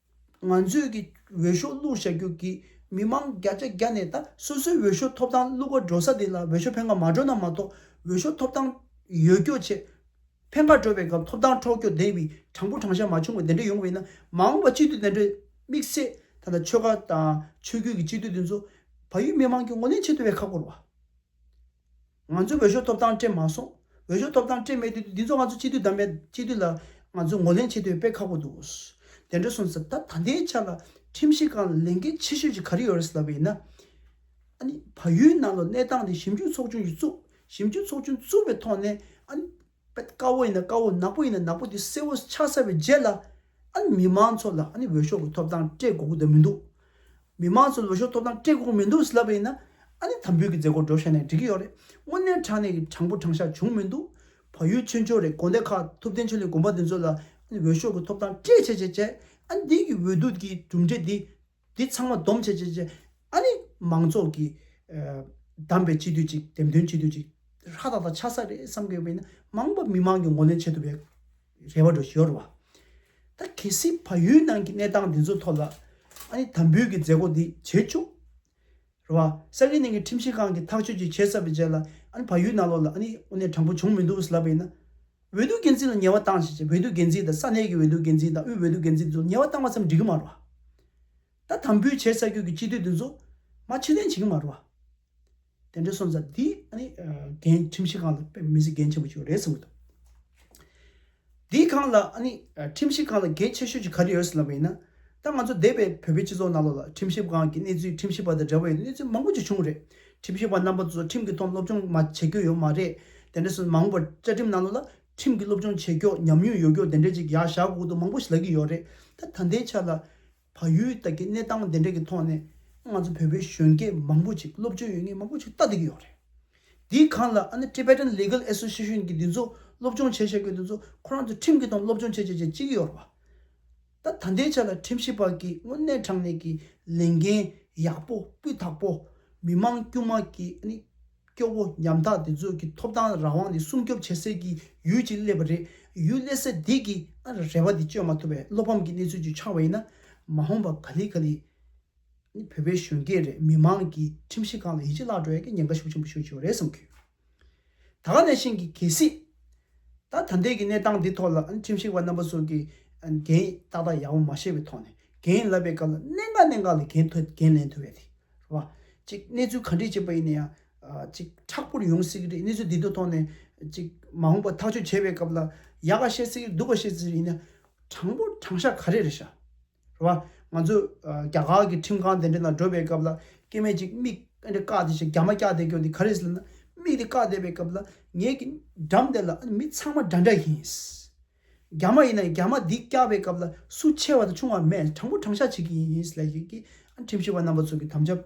ང་ཚོས་ཀྱིས་འོས་ཤོག་བླུག་བྱ་རྒྱུ་གིས་མི་མང་བརྒྱ་ཆ་བརྒྱ་ནས་ད་སོ་སོའི་འོས་ཤོག་ཐོབ་ཐང་བླུག་པར་འགྲོ་ས་དེ་ལ་འོས་ཤོག་འཕེན་ཁ་མ་འགྲོ་ན་མ་གཏོགས་འོས་ཤོག་ཐོབ་ཐང་ཡོད་སྐྱོ་ཆེ། འཕེན་ཁ་འགྲོ་བའི་སྐབས་ཐོབ་ཐང་འཕྲོག་སྐྱོ་བདེ་བའི་དྲང་པོ་དྲང་བཞག་མ་བྱུང་བ་དེ་འདྲ་ཡོང་བས་ན་མ་འོངས་པ་སྤྱི་འཐུས་དེ་འདྲ་དམིགས་བསལ་ད་ལྟ་ཆོལ་ཁ་དང་ཆོས་བརྒྱུད་ཀྱི་སྤྱི་འཐུས་དེ་ཚོ་བལ་ཡུལ་མི་མང་གི་ངོ་ལེན་བྱེད་ཐུབ་པའི་ཁག་པོར་བ། ང་ཚོའི་འོས་ཤོག་ཐོབ་ཐང་སྤྲད་མ་སོང། འོས་ཤོག་ཐོབ་ཐང་སྤྲད་མེད་དུས་འདི་ཚོ་ང་ཚོ་སྤྱི་འཐུས་དམ་མེད་སྤྱི་འཐུས་ལ་ང་ཚོས་ངོ་ལེན་བྱེད་འདོད་དཔེ་ཁག་པོ་འདུག། དེ་འདྲ་སོང་ཟེར་ད་ད་ལྟའི་ཆ་ལ་ཁྲིམས་ཞིབ་ཁང་ལ་ལས་འགན་ཆེ་ཤོས་ཀྱི་ག་རེ་ཡོད་རེད་ཟེར་བ་ཡིན་ན། ཨ་ནི་བལ་ཡུལ་ནང་ལོ་གནས་སྟངས་དེ་ཞིབ་འཇུག་ཚོགས་ཆུང་གིས་བཙུགས་ཞིབ་འཇུག་ཚོགས་ཆུང་བཙུགས་པའི་ཐོག་ནས་ཨ་ནི། པ་དཀའ་བོ་ཡིན་ན་དཀའ་བོ་ནག་པོ་ཡིན་ན་ནག་པོ་དེ་གསལ་བོ་ཆགས་ཚར་བའི་རྗེས་ལ་ཨ་ནི་མི་མང་ཚོ་ལ་ཨ་ནི་འོས་ཤོག་གི་ཐོབ་ཐང་སྤྲད་དགོ་གི་དོན་མི་འདུག་མི་མང་ཚོ་ལ་འོས་ཤོག་ཐོབ་ཐང་སྤྲད་དགོ་གི་མི་འདུག་ཟེར་ལབ་པ་ཡིན་ན་ཨ་ནི་དམ་འབུལ་གི་མཛད་སྒོ་འགྲོ་ཤེས་ནའི་འགྲིག་གི་ཡོག་རེད་དངོས་གནས་དྲང་གནས་ཀྱི་དྲང་པོ་དྲང་ཤག་བྱུང་མི་འདུག་བ་ཡུལ་ཆོལ་འཆོལ་རེད་དགོན་སྡེ་ཁག་ཐུབ་བསྟན་ཆོས་གླིང་དགོན་པ་དེ་ཚོ་ལ་ཨ་ནི་འོས་ཤོག་གི་ཐོབ་ཐང་སྤྲད་བྱས་བྱས་བྱས་ཨ་ནི་དེང་གི་འོས་བསྡུ་གི་གྲུབ་འབྲས་དེ་དེ་ཚང་མ་སྡོམ་བྱས་བྱས་བྱས། ཨ་ནི་མང་ཚོགས་ཀྱིས་བདམས་པའི་སྤྱི་འཐུས་ཅིག་འདེམས་ཐོན་སྤྱི་འཐུས་ཅིག་ཧྲ་ཏག་ཏག་ཆགས་ས་རེད་བསམ་གི་མིན་ན་མང་པོ་མི་མང་གི་ངོ་ལེན་བྱེད་ཐུབ་པའི་རེ་བ་འགྲོ་ཞོར་བ། ད་གལ་སྲིད་བལ་ཡུལ་ནང་གི་གནས་སྟངས་འདི་ཚོ་ཐོག་ལ་ཨ་ནི་དམ་འབུལ་གྱི་མཛད་སྒོ་འདི་བྱེད་བཅུག། རེད་བ། ས་གའི་ནང་གི་ཁྲིམས་ཞིབ་ཁང་གིས་ཐག་གཅོད་ཅིག་བྱས་ཚར་བའི་རྗེས་ལ། ཨཱ་ནི་ཕ་ཡུལ་ནང་ལོགས་ལ་ཨཱ་ནི་དབུ་ནས་དྲང་པོ་བྱུང་མི་འདུག་ལབ་པས་ན། འོས་བསྡུ་འགན་འཛིན་ལ་ཉེས་བ་བཏང་བྱས་རྗེས་འོས་བསྡུ་འགན་འཛིན་དང་ས་གནས་ཀྱི་འོས་བསྡུ་འགན་འཛིན་དང་དབུས་འོས་བསྡུ་འགན་འཛིན་དེ་ཚོར་ཉེས་བ་བཏང་བ་ཙམ་འགྲིག་གི་མ་རེད་བ། ད་དམ་འབུལ་བྱས་ས་ཁུལ་གྱི་སྤྱི་འཐུས་དེ་ཚོ། མ་ཕྱིར་འཐེན་བྱེད་ཀྱི་མ་རེད་བ། དེ་འདྲའི་སོང་ཙང་དེའི་ཨཱ་ནི། འགན་ཁྲིམས་ཞིབ་ཁང་ལ་དཔེ་མི་སྲིད་འགན་ཆེན་པོ་ཞིག་རེད་བསམ་གྱི་འདུག། འདི་གང་ལ་ཨ་ནི་ཁྲིམས་ཞིབ་ཁང་ལ་གལ་ཆེ་ཤོས་ཀྱི་ག་རེ་ཡོད་ཟེར་ལབ་པ་ཡིན་ན། ད་ང་ཚོ་འདས་པའི་བོད་པའི་སྤྱི་ཚོགས་ནང་ལོགས་ལ་ཁྲིམས་ཞིབ་ཁང་གི་གནས་ཚུལ་ཁྲིམས་ཞིབ་པ་དང་འབྲེལ་བ་ཡོད་གནས་ཚུལ་མང་པོ་ཅིག་བྱུང་བ་རེད། ཁྲིམས་ཞིབ་པ་རྣམ་པ་ཚོ་ཁྲིམས་ཀྱི་ཐོག་སློབ་སྦྱོང་མ་བྱེད་རྒྱུ་ཡོད་མ་རེད་དེ་འདྲས་སོ། མང་བོར་བཅའ་ཁྲིམས་ནང་ལོགས་ལ་ཁྲིམས་ཀྱི་སློབ་སྦྱོང་བྱེད་སྐྱོགས་ཉམས་མྱོང་ཡོད་སྐྱོགས་དེ་འདྲས་ཅིག་ཡག་བཞག་གོག་ཏུ་མང་པོ་ཞིག་ལབ་ཀྱི་ཡོད་རེད། ད་ད་ལྟའི་ཆ་ལ། བ་ཡུལ་དག་གི་གནས་སྟངས་དེ་འདྲ་གི་ཐོག་ནས་ང་ཚོ་བོད་པའི་གཞོན་སྐྱེས་མང་པོ་ཅིག་སློབ་སྦྱོང་ཡོད་ངེས་མང་པོ་ཅིག་ལྟ་བསྡད་ཀྱི་ཡོད་རེད། དེའི་གང་ལ་ཨ་ནི Tibetan Legal Association གི་འདི་ཚོ་སློབ་སྦྱོང་བྱེད་བཞག་གི་འདི་ཚོ་ཁོ་རང་ཚོ་ཁྲིམས་ཀྱི་ཐོག་ནས་སློབ་སྦྱོང་བྱེད་བྱེད་བྱེད་ཅི་གི་ཡོད་རེད་བ། ད་ད་ལྟའི་ཆ་ལ་ཁྲིམས་ཞིབ་པ་གིས་དངོས་གནས་དྲང་གནས་ཀྱི་ལས་འགན་ཡག་པོ་སྤུས་དག་པོ་མི་མང་དཀྱུས་མ་གིས་ཨ་ནི། སྐྱོ་བོ་ཉམ་ཐག་དེ་ཚོ་གི་ཐོབ་ཐང་རང་དབང་དེ་སྲུང་སྐྱོབ་བྱེད་སའི་གི་ཡུལ་ཅིག་སླེབས་པ་རེད་ཡུལ་སླེབས་ས་དེ་གི་རེ་བ་དེ་བཅོལ་མ་ཐུབ་པའི་བློ་ཕམ་གི་གནས་ཚུལ་ཅིག་ཆགས་པ་ཡིན་ན་མ་འོངས་པ་ག་ལི་ག་ལི་ནི་བོད་པའི་གཞོན་སྐྱེས་རེད་མི་མང་གི་ཁྲིམས་ཞིབ་ཁང་ལ་ཡིད་ཆེས་བརླག་འགྲོ་ཡ་གི་ཉེན་ཁ་ཤུགས་ཆེན་པོ་ཤོད་ཀྱི་ཡོད་རེད་བསམ་གི་ད་ག་ནས་བཞིན་གི་གལ་སྲིད་ད་ད་ལྟའི་གི་གནས་སྟངས་འདི་ཐོག་ལ་ཁྲིམས་ཞིབ་པ་རྣམ་པ་ཚོ་གི་འགན་ཏག་ཏག་ཡག་པོ་མ་བཞེས་པའི་ཐོག་ནས་འགན་ལབ་པའི་སྐབས་ལ་གནད་འགག་གནད་འགག་ལ་འགན་ཐོ་འགན་ལེན་ཐུབ་ཡ་དེ་བ། གཅིག་གནས་ཚུལ་ག་འདྲས་བྱས་པ་ཡིན་ན་ཡང། གཅིག་དྲག་པོར་ཡོང་སྲིད་ཀྱི་རེད་གནས་ཚུལ་འདི་དག་ཐོག་ནས། གཅིག་མ་འོངས་པར་ཐག་གཅོད་བྱེད་པའི་སྐབས་ལ། ཡག་ག་བཤད་སྲིད་ཀྱི་རེད་སྡུག་ག་བཤད་སྲིད་ཀྱི་རེད་ཡིན་ན། དྲང་པོ་དྲང་བཞག་ག་རེ་རེད་བྱ། རེད་བ། ང་ཚོ་རྒྱ་གར་གྱི་ཁྲིམས་ཁང་དེ་འདྲ་ལ་འགྲོ་བའི་སྐབས་ལ། སྐྱེས་མས་གཅིག་མིག་ཨ་འདྲས་བཀག་སྟེ་བྱས་རྒྱ་མ་བཀྱག་བསྡད་ཀྱང་འདི་ག་རེ་ཟེར་ན། མིག་དེ་བཀག་བསྡད་པའི་སྐབས་ལ། ངེད་ཀྱི་འགྲམ་དེ་ལ་ཨ་ནི་མི་ཚང་མ་འདྲ་འདྲ་ཡིན། རྒྱ་མ་ཡིན་ན་རྒྱ་མ་འདི་སྐྱག་པའི་སྐབས་ལ་སུ་ཆེ་བ་དང་ཆུང་བ་མེད་དྲང་པོ་དྲང་བཞག་བྱེད་ཀྱི་ཡིན་ཡིན་ལས་ཀྱི་ཁྲིམས་ཞིབ་པ་རྣམ་པ་ཚོ་གི་དམ་བཅའ་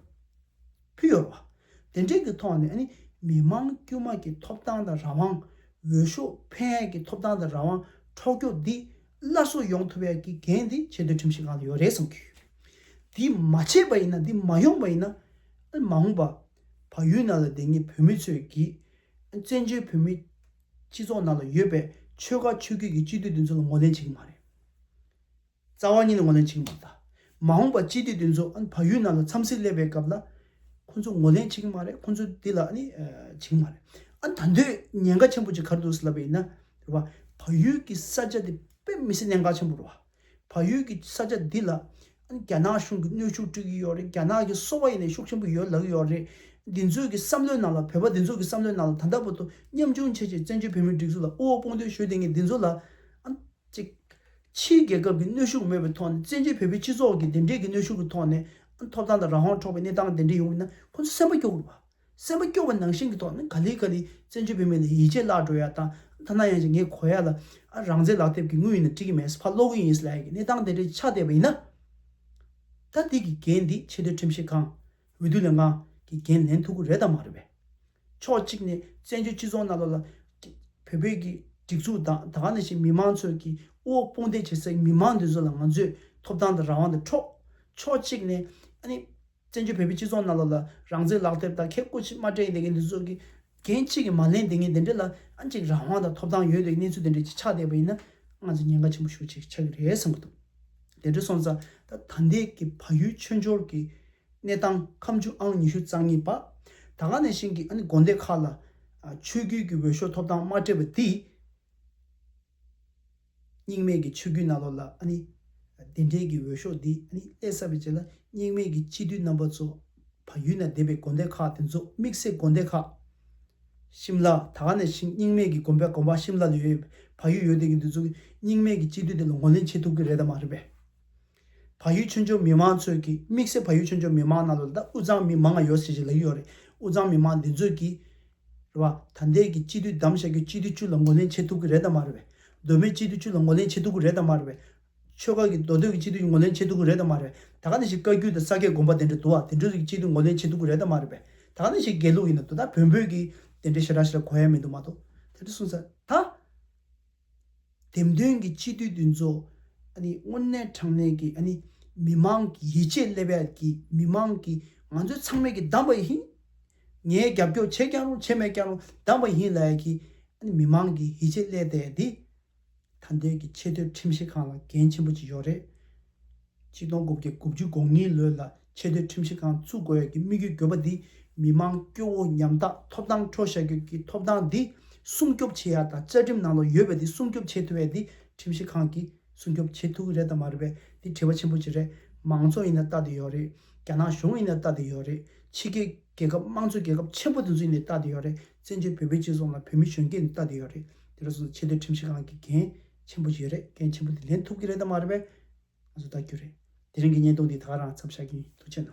ཕུལ་ཡོད་པ་དེ་འབྲེལ་གྱི་ཐོག་ནས་མི་དམངས་དཀྱུས་མ་གྱི་ཐོབ་ཐང་དང་རང་དབང། འོས་ཤོག་ཕན་ཡས་ཀྱི་ཐོབ་ཐང་དང་རང་དབང་འཕྲོག་རྒྱོག་འདི་སླར་གསོ་ཡོང་ཐུབ་ཡས་ཀྱི་འགན་འདི་ཆེ་མཐོའི་ཁྲིམས་ཞིབ་ཁང་ལ་ཡོད་རེད་བསམ་གྱི་ཡོད། འདི་མ་བྱས་པ་ཡིན་ན་འདི་མ་ཡོང་པ་ཡིན་ན་མ་འོངས་པ་བ་ཡུལ་ན་ལ་འདི་ཉིད་བོད་མི་ཚོས་ཀྱི་བཙན་བྱོལ་བོད་མི་སྤྱི་ཚོགས་ནང་ལ་ཡོད་པའི་ཆོལ་ཁ་ཆོས་བརྒྱུད་ཀྱི་སྤྱི་འཐུས་འདི་ཚོ་ལ་ངོ་ལེན་བྱེད་ཀྱི་མ་རེད། རྩ་བ་ཉིད་ལ་ངོ་ལེན་བྱེད་ཀྱི་མ་རེད། མ་འོངས་པ་སྤྱི་འཐུས་འདི་ཚོ་བལ་ཡུལ་ནང་ལ་འཚམས་གཟིགས་སླེབས་པའི་སྐབས་ལ་ཁོང་ཚོ་ངོ་ལེན་བྱེད་ཀྱི་མ་རེད་ཁོང་ཚོ་འདི་ལ་བྱེད་ཀྱི་མ་རེད། ད་འདོད་ཉེན་ཁ་ཆེན་པོ་ཅིག་གར་འདུག་ཟེར་ལབ་པ་ཡིན་ན། བལ་ཡུལ་གྱི་ས་ཆ་འདི་དཔེ་མི་སྲིད་གནད་འགག་ཆེན་པོ་རེད། བལ་ཡུལ་གྱི་ས་ཆ་འདི་ལ་རྒྱ་ནག་གཞུང་གིས་གནོད་ཤུགས་སྤྲོད་ཀྱི་ཡོད་རེད་རྒྱ་ནག་གིས་སོ་བ་ཡེ་ནས་ཤུགས་ཆེན་པོ་ཡོད་ལག་ཡོད་རེད། འདི་ཚོས་ཀྱི་བསམ་བློའི་ནང་ལ་བོད་པ་འདི་ཚོ་གྱི་བསམ་བློའི་ནང་ལ་ད་ལྟ་བར་དུ་ཉམ་ཆུང་ཆེ་ཆེ་བཙན་བྱོལ་བོད་མིའི་སྒྲིག་འཛུགས་ལ་དབུ་འོག་དཔུང་འདོན་ཞུས་ལྡན་མཁན་འདི་ཚོ་ལ། གཅིག། ཕྱིའི་རྒྱལ་ཁབ་ཀྱི་གནོད་ཤུགས་མེད་པའི་ཐོག་ནས་བཙན་བྱོལ་བོད་པའི་སྤྱི་ཚོགས་ཀྱི་དེ་འདྲའི་གི་གནོད་ཤུགས་ཀྱི་ཐོག་ནས་ཐོབ་ཐང་དང་རང་དབང་འཕྲོག་པའི་གནས་སྟངས་དེ་འདྲ་ཡོང་མིན་ན་ཁོང་ཚོ་སེམས་པ་སྐྱོ་དགོས་པ། སེམས་པ་སྐྱོ་བ་ནང་བཞིན་གྱི་ཐོག་ནས་ག་ལི་ག་ལི་བཙན་བྱོལ་བོད་མི་ལ་ཡིད་ཆེས་བརླག་འགྲོ་ཡ་དང་ཐ་ན་ཡང་ཅིག་ངའི་གོ་ཡ་ལ་རང་བཙན་ལག་དེབ་ཀྱི་དངུལ་ཡིན་ན་འགྲིག་གི་མེད་ས་ཕར་སློག་གི་ཡིན་ས་ལ་ཡ་གི་གནས་སྟངས་དེ་འདྲའི་ཆགས་བསྡད་པ་ཡིན་ན། ད་འདི་གི་འགན་འདི་ཆེས་མཐོའི་ཁྲིམས་ཞིབ་ཁང། འོས་བསྡུ་ལས་ཁང། གིས་འགན་ལེན་ཐུབ་གི་རེད་དམ་མ་རེད་བས། ཕྱོགས་གཅིག་ནས་བཙན་བྱོལ་སྤྱི་ཚོགས་ནང་ལོགས་ལ། བོད་བོད་ཀྱི་སྒྲིག་འཛུགས་དང་ད་ག་ནས་ཕྱིན་མི་མང་ཚོས་ཀྱི་དབུ་འོག་དཔུང་འདེགས་བྱེད་སའི་མི་མང་འདི་ཚོ་ལ་ང་ཚོས་ཐོབ་ཐང་དང་རང་དབང་དང་འཕྲོག། ཕྱོགས་གཅིག་ནས། བཙན་བྱོལ་བོད་པའི་སྤྱི་ཚོགས་ནང་ལོག་ལ་རང་བཙན་ལག་དེབ་དང་ཁེ་སྤོགས་ཆིག་མ་སྤྲད་འདི་གའི་འདི་ཚོ་གི་འགན་གཅིག་གིས་མ་ལན་འདི་གའི་འདི་འདྲེ་ལ་ཨ་ཅིག་རང་དབང་དང་ཐོབ་ཐང་ཡོད་འདི་གའི་གནས་ཚུལ་འདི་འདྲེ་ཅིག་ཆགས་བསྡད་པ་ཡིན་ན་ང་ཚོ་ཉེན་ཁ་ཆེན་པོ་ཞུགས་ཆིག་ཆགས་གི་རེད་བསམ་གི་འདུག་དེ་འདྲེ་སོང་ཙང་ད་ད་འདི་གའི་བ་ཡུལ་མཆོད་འཇོར་གི་གནས་སྟངས་ཁམས་ཆུ་ཨང་ཉི་ཤུ་རྩ་གཉིས་པ་ད་ག་ནས་བཞིན་གི་ཨ་ནི་དགོན་སྡེ་ཁག་ལ་ཆོས་བརྒྱུད་གི་འོས་ཤོག་ཐོབ་ཐང་མ་སྤྲད་པ་འདི། སྙིགས་མེད་ཀྱི་ཆོས་ཀུན་རྣ་ལོག་ལ་ནི། བདེན་བྲལ་གྱི་འོད་ཤོག་འདི་ནི་ཀླད་གསར་པའི་རྗེས་ལ་སྙིགས་མེད་ཀྱི་གཅིག་བསྡུས་རྣམ་པ་ཚོ། བ་ཡུལ་ན་བསྡད་པའི་དགོན་སྡེ་ཁག་དེ་ཚོ་དམིགས་བསལ་དགོན་སྡེ་ཁག། ཤིམ་ལ་ད་ག་ནས་ཤིང་སྙིགས་མེད་ཀྱི་དགོན་པའི་དགོན་པ་ཤིམ་ལ་ལ་ཡོད་བ་ཡུལ་ཡོད་བསྡད་ཀྱི་འདི་ཚོ་སྙིགས་མེད་ཀྱི་གཅིག་བསྡུས་དེ་ལ་ངོས་ལེན་བྱེད་ཐུབ་ཀྱི་རེད་དམ་མ་རེད་པས། ཕ་ཡུལ་ཆུ་མཆོག་མི་དམངས་ཚོས་ཀྱིས་དམིགས་བསལ་ཕ་ཡུལ་ཆུ་མཆོག་མི་དམངས་རྣམས་ལ་ད་དབུས་གཙང་མི་མང་ང་ཡོད་ཟེར་བཞིན་ལབ་ཀྱི་ཡོད་རེད་དབུས་གཙང་མི་དམངས་འདི་ཚོས་ཀྱིས་རེད་བ། ད་ལྟའི་གི་སྤྱི་འཐུས་གདམ་བྱ་རྒྱུ་སྤྱི་འཐུས་ཅུ་ལ་ངོ་ལེན་བྱེད་ཐུབ་ཀྱི་རེད་དམ་མ་རེད་བས། སྡོད་མོས་སྤྱི་འཐུས་ཅུ་ལ་ངོ་ལེན་བྱེད་ཐུབ་ཀྱི་རེད་དམ་མ་རེད་བས། ཆོལ་ཁ་གི་མདོ་སྟོད་ཀྱི་སྤྱི་འཐུས་ཀྱི་ངོ་ལེན་བྱེད་ཐུབ་ཀྱི་རེད་དམ་མ་རེད་བས། ད་ག་ནས་ཞིག་བཀའ་རྒྱུད་དང་ས་སྐད་དགོན་པ་དེ་འདྲ་འདུག་བ་དེ་འདྲ་ཚོའི་ཀྱི་སྤྱི་འཐུས་ངོ་ལེན་བྱེད་ཐུབ་ཀྱི་རེད་དམ་མ་རེད་བས། ད་ག་ནས་ཞིག་དགེ་ལུགས་ཡིན་ན་དོ་ད་བོན་པོས་ཀྱིས་དེ་འདྲའི་ཞེ་དྲག་ཞིག་ལ་གོ་ཡ་མི་འདུག་མ་གཏོགས་དེ་འདྲ་གསུངས་ས་ད། འདེམས་ཐོན་གྱི་སྤྱི་འཐུས་འདུས་ཚོགས། དངོས་གནས་དྲང་གནས་ཀྱི། མི་དམངས་ཀྱི་ཡིད་ཆེས་སླེབས་ཡ་གི། མི་དམངས་ཀྱི་ང་ཚོའི་ཚང་མས་ཀྱི་བདམས་པ་ཡིན། ངས་རྒྱབ་སྐྱོར་བྱས་ཀྱང་རུང་བྱས་མེད་ཀྱང་རུང་བདམས་པ་ཡིན་ལ་ཡ་གི། མི་དམངས་ཀྱི་ཡིད་ཆེས་སླེད་ད་ཡ་དི། ད་འདོད་ཀྱི་ཆེས་མཐོའི་ཁྲིམས་ཞིབ་ཁང་ལ་འགན་ཆེན་པོ་ཅིག་ཡོད་རེད། ཕྱི་སྟོང་དགུ་བརྒྱ་དགུ་བཅུ་གོ་གཉིས་ལོའི་ལ་ཆེ་སྡོད་ཁྲིམས་ཞིབ་ཁང་བཙུགས་དགོས་ཀྱི་དམིགས་ཡུལ་འགོད་པ་འདིས་མི་དམངས་སྐྱོ་བོ་ཉམ་ཐག་ཐོབ་ཐང་འཕྲོག་བཞག་ཁྱོད་ཀྱི་ཐོབ་ཐང་འདི་སྲུང་སྐྱོབ་བྱེད་ཡ་དང་བཅའ་ཁྲིམས་ནང་ལ་ཡོད་པའི་འདི་སྲུང་སྐྱོབ་བྱེད་ཐུབ་བས་འདི་ཁྲིམས་ཞིབ་ཁང་གིས་སྲུང་སྐྱོབ་བྱེད་ཐུབ་གི་རེད་དམ་མ་རེད་བས་འདི་དྲི་བ་ཆེན་པོ་གཅིག་རེད་མང་གཙོ་ཡིན་ན་ལྟ་དེ་ཡོད་རེད་རྒྱ་ནག་གཞུང་ཡིན་ན་ལྟ་དེ་ཡོད་རེད་ཕྱི་རྒྱལ་རྒྱལ་ཁབ་དམངས་གཙོ་རྒྱལ་ཁབ་ཆེན་པོ་དེ་ཚོ་ཡིན་ནས་ལྟ་དེ་ཡོད་རེད་བཙན་བྱོལ་བོད་པའི་སྤྱི་ཚོགས་ནང་བོད་མི་གཞོན་སྐྱེས་ནི་ལྟ་དེ་ཡོད་རེད་འདི་རུ་སོང་ཚེ་ཆེ་སྡོད་ཁྲིམས་ཞིབ་ཁང་གི་འགན་ཆེན་པོ་ཞིག་རེད་འགན་ཆེན་པོ་འདི་ལེན་ཐུབ་ཀྱི་རེད་དམ་མ་རེད་པས་ང་ཚོ་བལྟ་རྒྱུ་རེད་དེ་རིང་གི་བརྙན་ཐུང་འདི་དག་རང་འཚམས་བཞག་གིན་འདུག་ཕྱི་ནང།